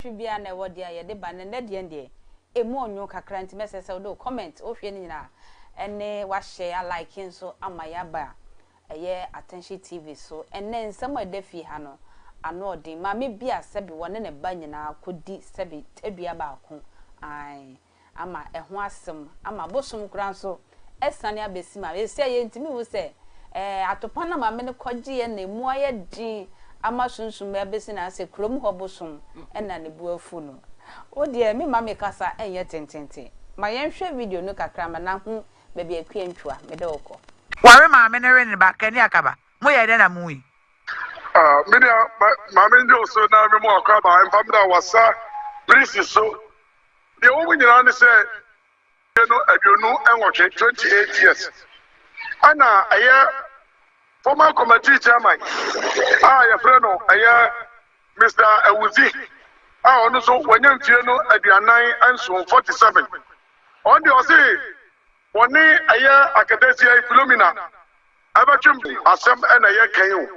Nantwi biaa na ɛwɔ deɛ a yɛde ba no nnɛ deɛn deɛ ɛmu ɔnwoo kakra nti mɛsɛ sɛ wode wo comment wohwɛ no nyinaa ɛne wahyɛ a like nso ama yɛaba ɛyɛ Attention TV so ɛnnɛ nsɛm a ɛda fie ha no ano ɔden maame bi a sɛbi wɔne ne ba nyinaa kɔdi sɛbi tadua baako ae ama ɛho asem ama bosom koraa nso asiane abɛsim a ɛsɛ yɛntumi hu sɛ ɛɛ atopa na maame no kɔgyeɛ na ɛmu ayɛ den ama sunsum abɛsi na sɛ kurom hɔ bosom na ne bo afu no wo deɛ me ma me kasa nyɛ tententen ma yɛnhwɛ video no kakra ma na hu baabi akua ntwa mede wo kɔ. Ware maame no we ne ba kani akaba mo yɛ dɛn na mo yi. Ah me nua ma me nyew so na me mo akwaba mfa me da wasa prisi so Nea ɛwɔ mu nyinaa ne sɛ, mfe no aduonu nwɔtwe, twenty eight years, ɛna ɛyɛ former committee chairman a yɛfrɛ no ɛyɛ Mister Awudzi a ɔno nso wanya mfie no aduanan nson, forty seven. Ɔno deɛ ɔse wɔne ɛyɛ aketesia yi Philomena Ɛbɛtwe mu asɛm na yɛ kan yi o.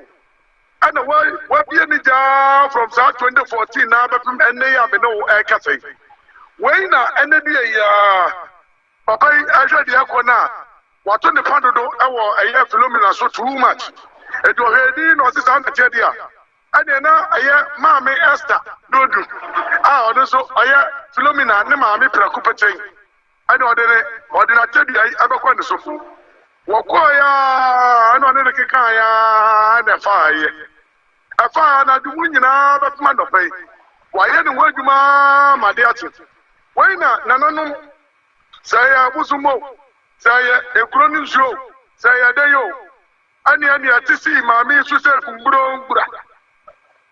Ɛna w'abie ne gya aa from saa 2014 naa bɛpem ɛnnɛ yi a me ne wo ɛɛkasa yi. Wei na ɛnɛ dua yi aa. Papa yi ɛhwɛ deɛ ɛkɔ no a wato ne pa dodo wɔ ɛyɛ Philomena so too much. Enti ɔhwɛɛ din na ɔse saa na teɛ deɛ a ɛneɛ na ɛyɛ maame Esther Dodu a ɔno nso ɔyɛ Philomena ne maame prɛko pɛtɛn Ɛnna ɔde ne ɔde n'akyɛdeɛ yi ɛbɛkɔ ne sofo. Wɔkɔɔeɛ ara, ɛnna ɔne no kekaeɛ ara na ɛfaaeɛ. Ɛfaa anadwo mu nyinaa bɛpem anɔpa yi. Wayɛ ne ho adwuma ara ma ade akye. Wei na nananom, sɛ ɛyɛ abosomma o, sɛ ɛyɛ ekuro no nsuo o, sɛ ɛyɛ dɛn o, Ɛneɛ nea ɛte sii maame yi so sɛ mburombura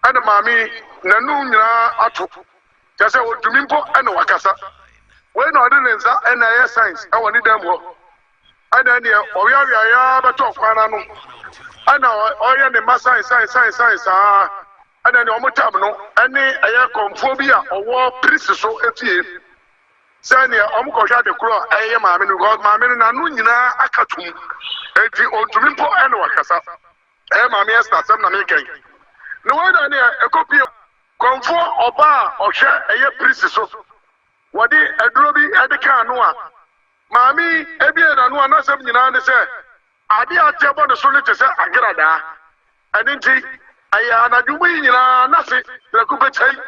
ɛna maame yi nanum nyinaa ato kyɛ sɛ ɔtumi mpo ɛna wakasa wei na ɔde ne nsa ɛna ɛyɛ signs ɛwɔ ne dan mu hɔ ɛna ɛneɛ ɔweaweaeɛ ara bɛtɔɔ kwan no ano ɛna ɔyɛ ne mma sign sign sign sign saa Ɛna nea wɔtam no ne ɛyɛ kɔmfoɔ bi a ɔwɔ prisi so fie sɛ nea wɔkɔhwɛ ade korɔ a ɛyɛ maame no because maame no n'ano nyinaa aka tum eti ɔntumi mpo ɛna wakasa ɛyɛ maame ɛsta asɛm na mekɛn na wei na nea ɛkɔpie kɔmfoɔ ɔbaa a ɔhwɛ ɛyɛ prisi so wɔde aduro bi ɛde ka ano a maame ebie n'ano a n'asɛm nyinaa ne sɛ ade a ateɛ bɔ ne so ne te sɛ agradaa Ɛno nti, ɛyɛ anadwo mu yi nyinaa na se prɛko pɛ kyɛe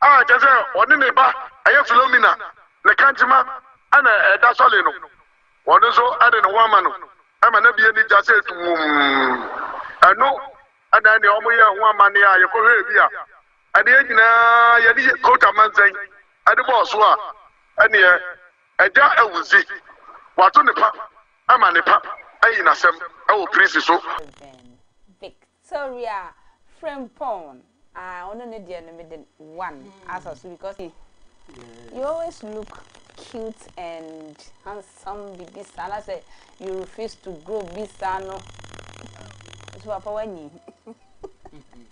a kyerɛ sɛ ɔne ne ba a ɛyɛ Filomena, ne kankyema a na ɛda sɔle no, ɔno nso de ne ho ama no ma na bi ani gya sɛ tumm. Ɛno na ɛne wɔn yɛɛ ho amanneɛ a yɛkɔhwɛɛ bi a ɛne yɛn nyinaa yɛde yɛ coat amansɛn de bɔɔ so a ɛneɛ, Agya awu se wɔato ne pa Ama ne pa ayi n'asɛm wɔ Prisi so. Rev. Victoria Frimpong ah ɔno ne deɛ no me de one asɔ so because he you always look cute and handsome bibi saa na sɛ you refuse to grow bi saa no nso papa wanyi.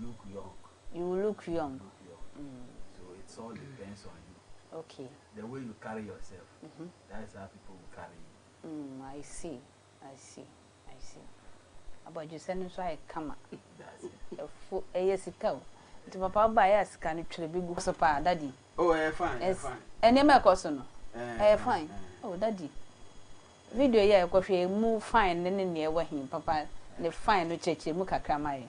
look young. You will look young. You will look young. Mm. So it all depends on you. Okay. The way you carry yourself, mm -hmm. that is how people will carry you. Mm, I see. I see. I see. abadwesɛ no nso ayɛ kama ɛfo ɛyɛ sika o nti papa ɔba yɛ sika no twere bi gu so paa dadi oh ɛyɛ fine ɛyɛ fine ɛnneɛma ɛkɔ so no ɛyɛ fine oh dadi video yɛ ɛkɔhwɛ mu fine ne ne nea ɛwɔ hin papa ne fine no kyerɛkyerɛ mu kakra ma yɛ.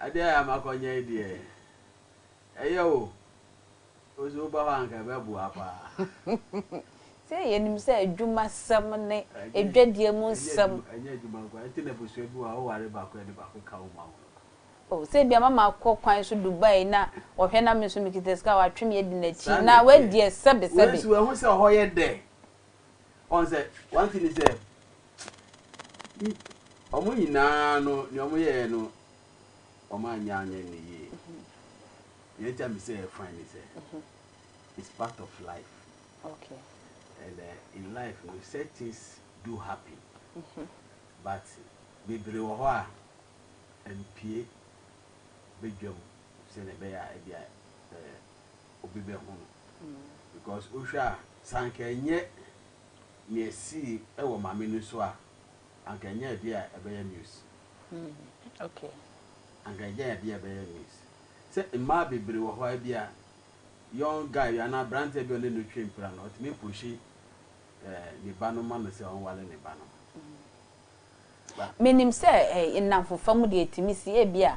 Adeɛ a makɔnyɛ yi deɛ ɛyɛ o wo so woba hɔ a anka ɛbɛboa paa. Sɛ yɛnim sɛ adwumasɛm ne adwadie mu nsɛm. Ɛnyɛ adwuma nko ara nti na abusua bi wɔ hɔ a woware baako a ɛde baako ka wo ma wo. Oh sɛ ebia mama akɔ kwan so Dubai na ɔhwɛ na me nso mekita sika a watwe me adi n'akyi na wadi ɛsɛbesɛbe. Wei nso wahu sɛ hɔ yɛ dɛ. Wɔn sɛ, one thing ne sɛ, wɔn nyinaa no nea wɔn yɛɛ no wɔn anyɛ anyɛ no yie. Nea ɛnti a me sɛ ɛyɛ fine ne sɛ, it's part of life. Okay. And uh, in life no such things do happen. Mm -hmm. But bebree wɔ hɔ a mpie bedwam sɛnea ɛbɛyɛ a ebi a obi bɛhu no because wohwɛ a sɛ anka ɛnyɛ nea esii wɔ maame no so a anka ɛnyɛ adeɛ a ɛbɛyɛ news okay anka ɛnyɛ adeɛ a ɛbɛyɛ news sɛ mmaa bebree wɔ hɔ a bi a young guy bi anaa aberanteɛ bi a ɔne no twe mpira no ɔtumi pushi eh, ne ba no ma no sɛ ɔnwale ne ba no Menim sɛ nnamfofa mu deɛ ɛtumi si, ebia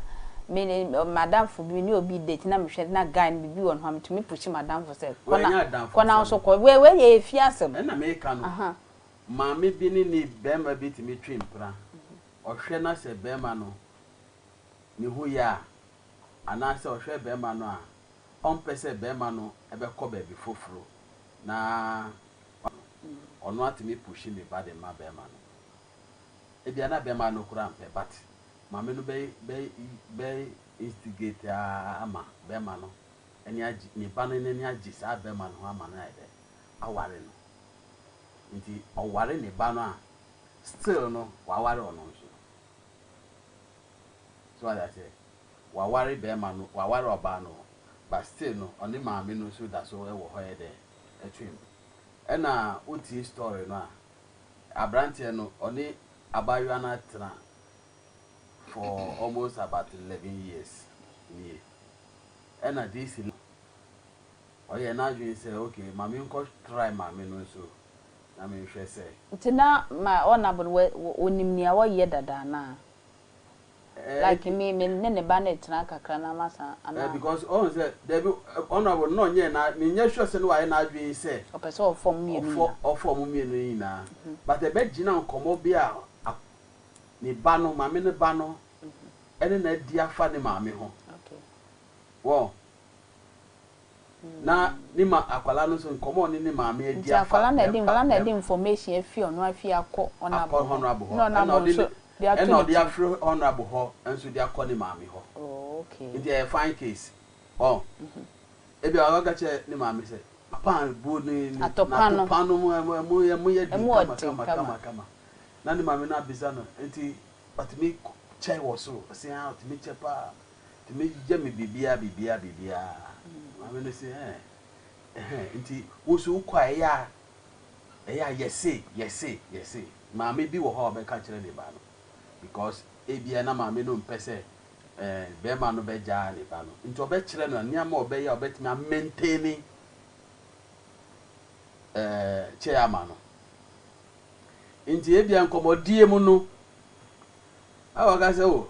me ne m'adamfo bi, me ne obi date na mehwɛ na guy no biribi wɔ ne ho a, metumi pushi m'adamfo sɛ kɔ na, kɔ na wo nso kɔ. Wei, wei deɛ ɛyɛ fie asɛm. Ɛna meka no, maame bi ne ne barima bi tumi twe mpena, ɔhwɛ na sɛ barima no ne ho yɛ a, anaasɛ ɔhwɛ barima no a, ɔmpɛ sɛ barima no bɛkɔ baabi foforo, na ɔno atumi pushi me ba de ma bɛɛma no ebia na bɛɛma no koraa mpɛ but maame no bɛ bɛ instigate aa ama bɛɛma no ani agye me ba no nani agye saa bɛɛma no ho ama no ayɛ dɛ aware no nti ɔware ne ba no a still no waware ɔno nso so wade aseɛ Ɔaware bɛrima no, ɔaware ɔbaa no but still no ɔne maame no so da so wɔ hɔ yɛ dɛ twem. Ɛna wo tie story no a abranteɛ no ɔne abaayewa no atena for almost about eleven years nie. Ɛna this ɔyɛɛ n'adwene sɛ okay ma me nkɔ try maame no nso na me nhwɛ sɛ. Nti na ma ɔnabo no wɔ ɔnim nea ɔyɛ dada anaa? Like me me ne ne ba no retena kakra na masan anaa. Because ɔhu sɛ dabi honourable no na ɔnyɛɛ na menyɛ sure sɛ ne wayɛ n'adwene sɛ. Ɔpɛ sɛ ɔfa ɔmo mmienu nyinaa. Ɔfa ɔmo mmienu nyinaa but ɛbɛ gyina nkɔmɔ bi a ne ba no maame no ba no ɛne no adi afa ne maame ho wɔ. na ne ma akwadaa no nso nkɔmmɔ a ɔne ne maame adi afa. Nti akwadaa no ɛde nkwadaa no ɛde information afi ɔno afie akɔ honourable hɔ. Akɔ honourable hɔ. Ɛna ɔde nso de ato ne ti. Ɛna ɔde afiri honourable hɔ nso de akɔ ne maame hɔ. Oh okay. Nti ɛyɛ fine case. Ɔn. Ebi a waka kyerɛ ne maame sɛ papa a bu ne ne atɔpa no ɛmu yɛ ɛmu yɛ den kama kama kama kama na ne maame no abisa no nti ɔtumi kyɛ wɔ soro ɔsea ɔtumi kyɛ paa. Nti megyigya me biribiara biribiara biribiara. Maame no se ɛɛ ɛhɛn nti wo nso wokɔ a ɛyɛ a ɛyɛ a yɛse yɛse yɛse. Maame bi wɔ hɔ a ɔbɛka kyerɛ ne ba no because ebia na maame no mpɛ sɛ ɛɛ bɛrima no bɛgyaa ne ba no nti ɔbɛkyerɛ no nneɛma a ɔbɛyɛ a ɔbɛtumi a maintain ɛɛ kyɛɛ ama no. Nti ebia nkɔmmɔdie mu no a ɔka sɛ o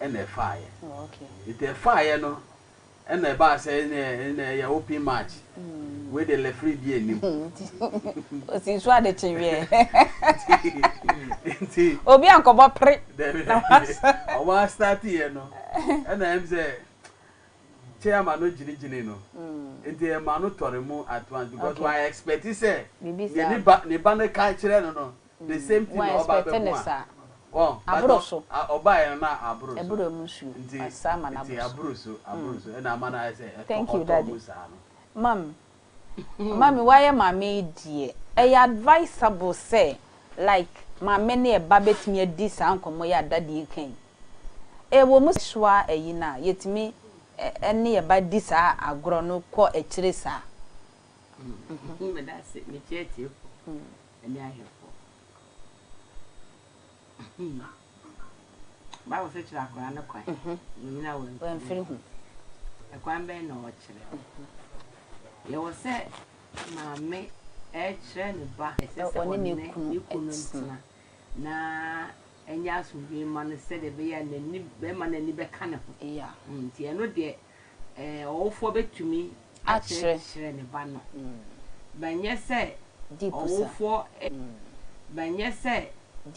na ɛfaaeɛ. Nti ɛfaaeɛ no na ɛbaa sɛ ɛnɛ ɛyɛ open match. Wei de lefiri bi anim. Osi nso ade kye wiɛ. Nti. Obi ankɔbɔ pere. Dɛbi ɔmo asitati yɛ no ɛna ɛm sɛ chairman no gyinigyini no. Nti ɛma no tɔre mu at once because wa expect sɛ. Biribi saa. Ne ba ne ba no ka kyerɛ no no. The same thing na ɔba bɛho a wɔn but ɔbaeɛ no na aboro so nti nti aboro so aboro so ɛna ama no ayɛ sɛ ɛtɔ ɔtɔ mu saa no. Mami mami wayɛ maame yi deɛ ɛyɛ advisable sɛ like maame ne ɛba bɛtumi adi saa nkɔmmɔ yi a daddy reka yi ɛwɔ mu sɛ soa ayi no a yɛtumi ɛne ɛba di saa agorɔ no kɔ akyire saa. Medase mekyia atiefo ne ahwɛfoɔ. Bible sɛ kyerɛ akwadaa no kwan mhm. na ɔnyina wamfiri ho. Ɛkwan bɛn na ɔkyerɛ? Yɛwɔ sɛ maame ɛkyerɛ ne ba ɛsɛ sɛ ɔne ne kunu ntena na ɛnyɛ asomdwe ma no sɛdeɛ ɛbɛyɛ a n'ani bɛma n'ani bɛka ne ho. Mm, nti ɛno deɛ Ɔwofoɔ bɛtumi akyerɛkyerɛ ne ba no, bɛnyɛ sɛ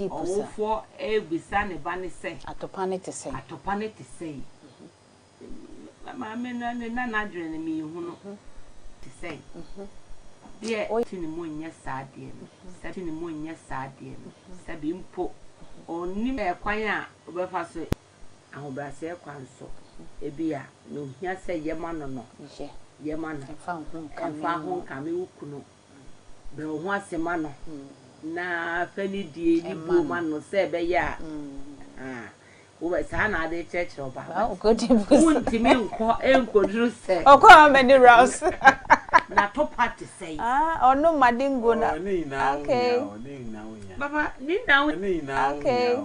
ɔwofoɔ rebisa ne ba no sɛ, Atopa no te sɛn? Atopa no te sɛn? Me maame no ne na n'adwene no, mehu no, te sɛn? Deɛ ɔte ne mu nyɛ saa adeɛ no, sɛbe mpo ɔnnim kwan a ɔbɛfa so ahobrɛaseɛ kwan so, ebia nea ohia sɛ yɛma no no, yɛma no. Mfa wo ho nkame wo kunu. Brɛ wo ho ase ma no, na fa anidie yi buo ma no sɛ ɛbɛyɛ a, ahaa, wobɛ, saa na ade kyerɛkyerɛ wo ba. Wontumi nkɔ nkɔduru sɛ. Ɔkɔ how many rounds? N'atopa te sɛn? Ɔnom madingo na. Okay. Papa, ne nyinaa wohia. Okay.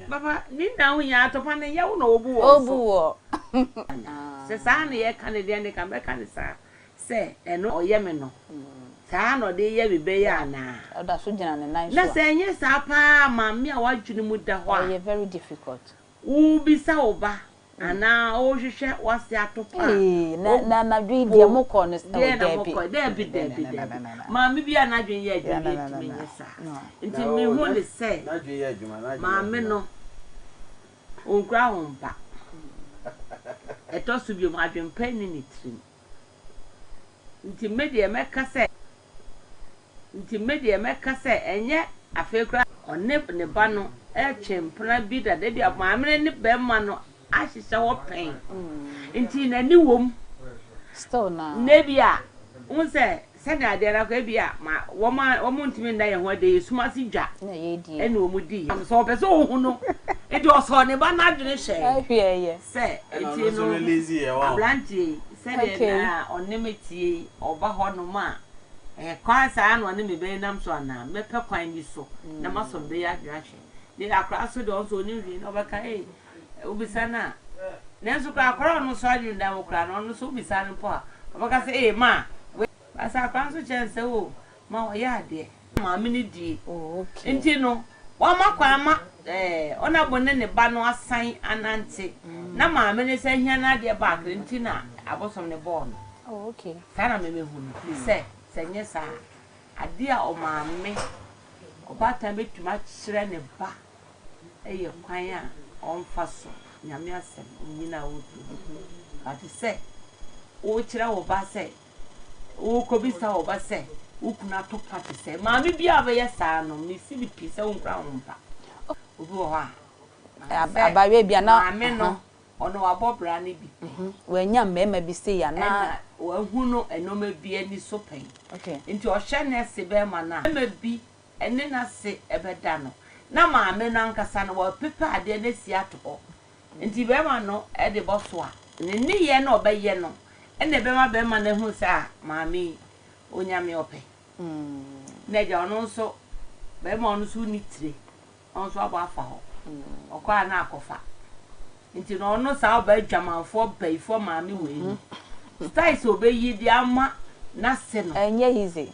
Papa, ne nna ho hia atɔ pa no ɛnyɛ wo na wɔbu wɔ wo so. Wɔbu wɔ. Sɛ saa na yɛka no deɛ neka mɛka no saa sɛ ɛno ɔyɛ me no saa na ɔde yɛ me bɛyɛ anaa? Ɔda so gyina ne nan so a. Na sɛ ɛnyɛ saa paa maame a w'adwene mu da hɔ a. Ɛyɛ very difficult. Wobisa wo ba Anaa worehwehwɛ w'ase atop a. Ee, na, na anadwo yi deɛ mokɔ no. Deɛ na mokɔ, daabi, daabi, daabi. Maame bi a n'adwene yɛ adwuma bi ntumi nyɛ saa. Nti mehu no sɛ, maame no, ɔnkura wo mma. Ɛtɔ so bio, adwempa nni ne tirim. Nti me deɛ mɛka sɛ. Nti me deɛ mɛka sɛ ɛnyɛ afei koraa. Ɔne ne ba no retwe mpena bi dada. Ebia maame no ne barima no ahyehyɛ hɔ pɛn. Nti n'ani wom. Still na. Na ebia wohu sɛ Sɛnea ɛda no ara, ebia ma wɔn a wɔntumi nna yɛn ho adi yɛ sum ase dwa na wɔn di yɛn. Sɛ ɔpɛ sɛ ohu no, enti ɔsɔɔ ne ba no adwene hyɛe sɛ enti no abranteɛ yi sɛdeɛ na ɔne me teɛ yi ɔba hɔ nom a, ɛyɛ kwan saa ara na ɔne me bɛnam so anaa? Mɛpɛ kwan bi so na masɔ me ba yi adwene ahwɛ. Deɛ akwadaa so deɛ ɔno nso ɔnim hwee na ɔbɛka ee. Wobisa no a, nanso koraa akwadaa a ɔno nso adwene da hɔ koraa no, ɔno nso wobisa no mpo a, ɔbɛka sɛ, Ee, ma. Wei. Baasa akwadaa no nso kyerɛ no sɛ, Oo, ma ɔyɛ adeɛ. Maame no die. Enti no, wɔama kwan ma, ɛɛ, ɔnabo ne ne ba no asan anante. Na maame no san hia n'adeɛ back no, nti na abosom no bɔɔ no. Saa na memehu no, ɛfiri sɛ, sɛ ɛnyɛ saa a, adeɛ a ɔmaame, ɔbaatan bɛtumi akyerɛ ne ba. yɛ kwan a wɔfa so Nyame asɛm nnyina a wotu gu. Ɔte sɛ wokyerɛ wo ba sɛ, wokɔbisa wo ba sɛ wo kunu ato pa te sɛn. Maame biara a ɔbɛyɛ saa no, mesi no pi sɛ wonkura ho mpa. Obi wɔ hɔ a, sɛ maame no, ɔno wabɔ bra no bi pɛn. Wannya mmarima bi sei a na. Ɛna wahu no nnoɔma bi ani so pɛn. Nti ɔhyɛ nɛɛse bɛrima no a, bɛrima bi. ne n'ase bɛda no, na maame no ankasa no, wapepa adeɛ no asi ato hɔ. Nti bɛrima no de bɔ so a, ne nneyɛɛ no a ɔbɛyɛ no na ɛbɛma bɛrima no ahunu sɛ, ah, maame yi, ɔnya me ɔpɛ. Na agya, ɔno nso, bɛrima ɔno nso wonni tire, ɔno nso abɔ afa hɔ. Ɔkɔ a na akɔfa. Nti no, ɔno saa ɔbaa adwamanfoɔ, bayifoɔ maame wei no, style sɛ ɔbɛyi de ama n'ase no. Ɛnyɛ easy.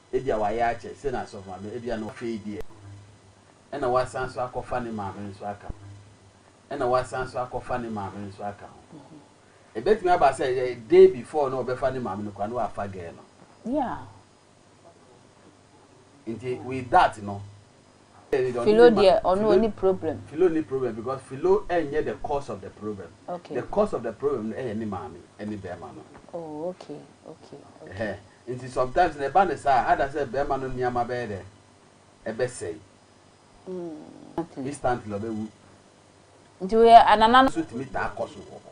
Ebia wayɛ akyɛ sɛ n'asɔfo maame, ebia na afei deɛ ɛna wasan nso akɔfa ne maame nso aka ho. Ɛna wasan nso akɔfa ne maame nso aka ho. Ebetumi aba sɛ a day before na ɔbɛfa ne maame no koraa na wafa girl no. Yeah. Nti with that no. Philo deɛ ɔno ɔni problem. Philo nni problem because Philo nyɛ the cause of the problem. The cause of the problem no yɛ ne maame ne barima no. Oh okay okay okay. Ɛhɛn nti sometimes no ɛba no saa a ada sɛ barima no nneɛma bɛyɛ dɛn? Ɛbɛsɛe. Instantly ɔbɛwu. Nti woyɛ anana no. Nso tumi taa kɔ so wɔ hɔ.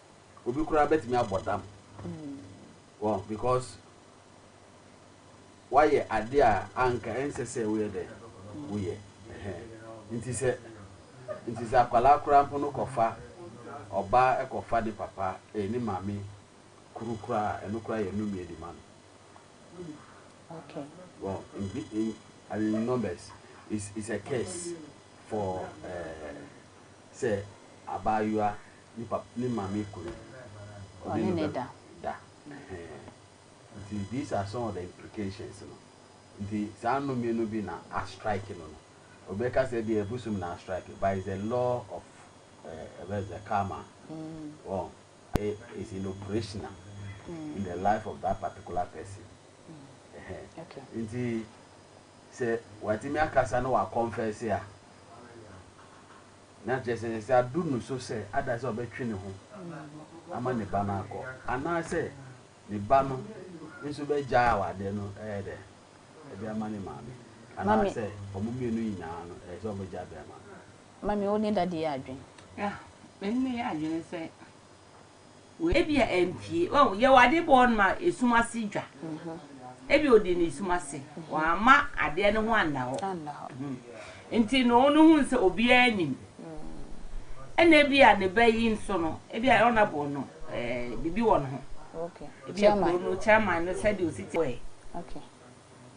Obi koraa bɛtumi abɔ dam wɔ because wayɛ ade a anka ɛnsɛ sɛ woyɛ dɛ woyɛ nti sɛ nti sɛ akwadaa koraa mpo no kɔfa ɔbaa ɛkɔfa ne papa ɛyɛ ne maame kuru koraa ɛno koraa yɛ nnome adi ma no. Okay. Well, in, in, I mean, in numbers, it's, it's a curse for uh, say abayua Ne pap ne maame kunu. Ɔne no bɛ da ɛhɛn nti these are some of the implications no nti saa nnome no bi na a strike no no obi bɛka sɛ deɛ ɛbosom na a strike but it's a law of eh, ɛbɛ is a karma wɔn eh, is in operational in the life of that particular person ɛhɛn Okay. nti sɛ watumi akasa na wakɔnfɛse a. Na kyerɛ sɛ, sɛ adu no so sɛ ada sɛ ɔbɛtwe ne ho ama ne ba no akɔ, anaasɛ ne ba no nso bɛgyaa awadeɛ no ɛyɛ dɛ de ama ne maame, anaasɛ wɔn mmienu nyinaa no ɛyɛ sɛ wɔbɛgyaa de ama no. Mami, wo ne Daddy yɛ adwene? Ah, me ne no yɛ adwene sɛ. Ebia ampue. Wahu, yɛwɔ ade bɔɔ no ma esum ase dwa. Ebia odi no esum ase. Wamma adeɛ no ho anna hɔ. Nti no, no hu sɛ obiara nnim. Ɛna ebia ne ba yi nso no, ebia honourable no, eh, biribi wɔ ne ho. Ebia kuro no chairman no sɛdeɛ osi te ɔɛ.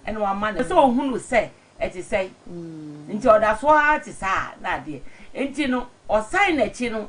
Ɛna wamma ne sɛ ohunu sɛ ɛte sɛn. Nti ɔda so ara te saa na adeɛ. Nti no, ɔsan n'akyi no,